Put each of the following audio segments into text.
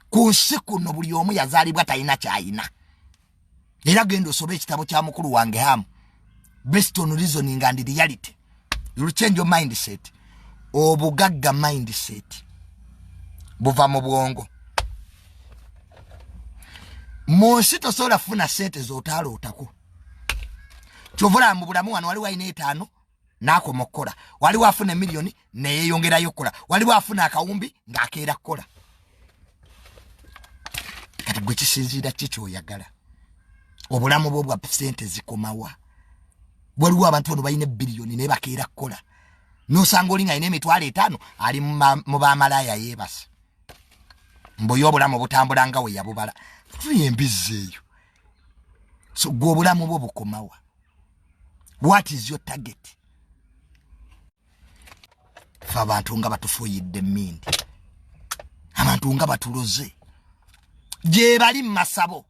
ku nsi kuno buli omu yazaalibwa talina kyayina era genda osoba ekitabo kya mukulu wange hamu based on reasoning and reality you'll change your mindset obugagga mindset buva mu bwongo mu nsi tosobola kufuna sente z'otaalootako kyovula mu bulamu wano waliwo alina etaano n'akoma okukola waliwo afuna emiliyoni neyeyongerayo okukola waliwo afuna akawumbi ng'akeera kukola kati gwe kisinziira ki kyoyagala obulamu bwo bwa sente zikomawa waliwo abantu bano balina ebiriyoni naye bakeera kukola nosanga oli ngaalina emitwalo etaano ali mu bamalaaya yeebasa mbuye obulamu obutambula nga we yabubala tuye embizzi eyo so gwe obulamu bwo bukomawa what is your target fe abantu nga batufuyidde mindi abantu nga batuloze gyebali mumasabo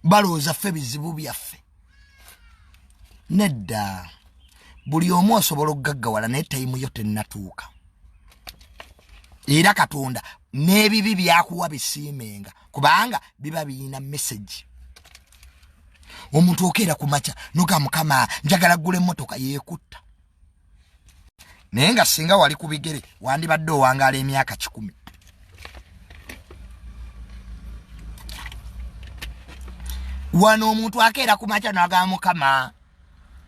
balowooza ffe bizibu byaffe nedda buli omu osobola okugaggawala naye tayimu yo tennatuuka era katonda n'ebibi byakuwa bisiimenga kubanga biba birina mesagi omuntu okeera ku makya noga mukama njagala gula emmotoka yeekutta naye nga singa wali ku bigere wandibadde owangaala emyaka kikumi wano omuntu akeera ku makya noga mukama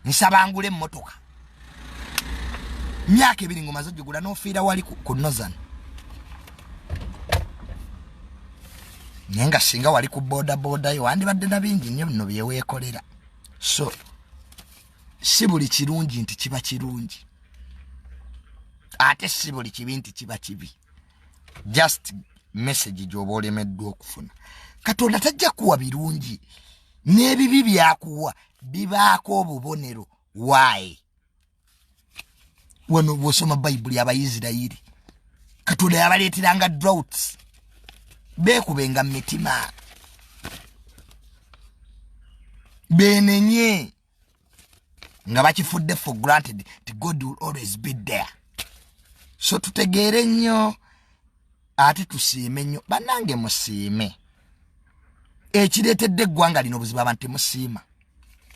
nsaba ngule emmotoka myaka ebiri ngomaze ogigula nofiira wali ku nozan naye nga singa wali ku bodabodayo wandibadde na bingi nnyo bino byeweekolera so si buli kirungi nti kiba kirungi ate si buli kibi nti kiba kibi just message gyoba olemeddwa okufuna katonda tajja kuwa birungi n'ebibi byakuwa bibaako obubonero waayi wano bwosoma bayibuli abaisirairi katonda yabaleeteranga drouts beekubenga mu mitima benenye nga bakifudde for granted ti god will always be there so tutegeere nnyo ate tusiime nnyo bannange musiime ekireetedde eggwanga lino obuzibu abantu temusiima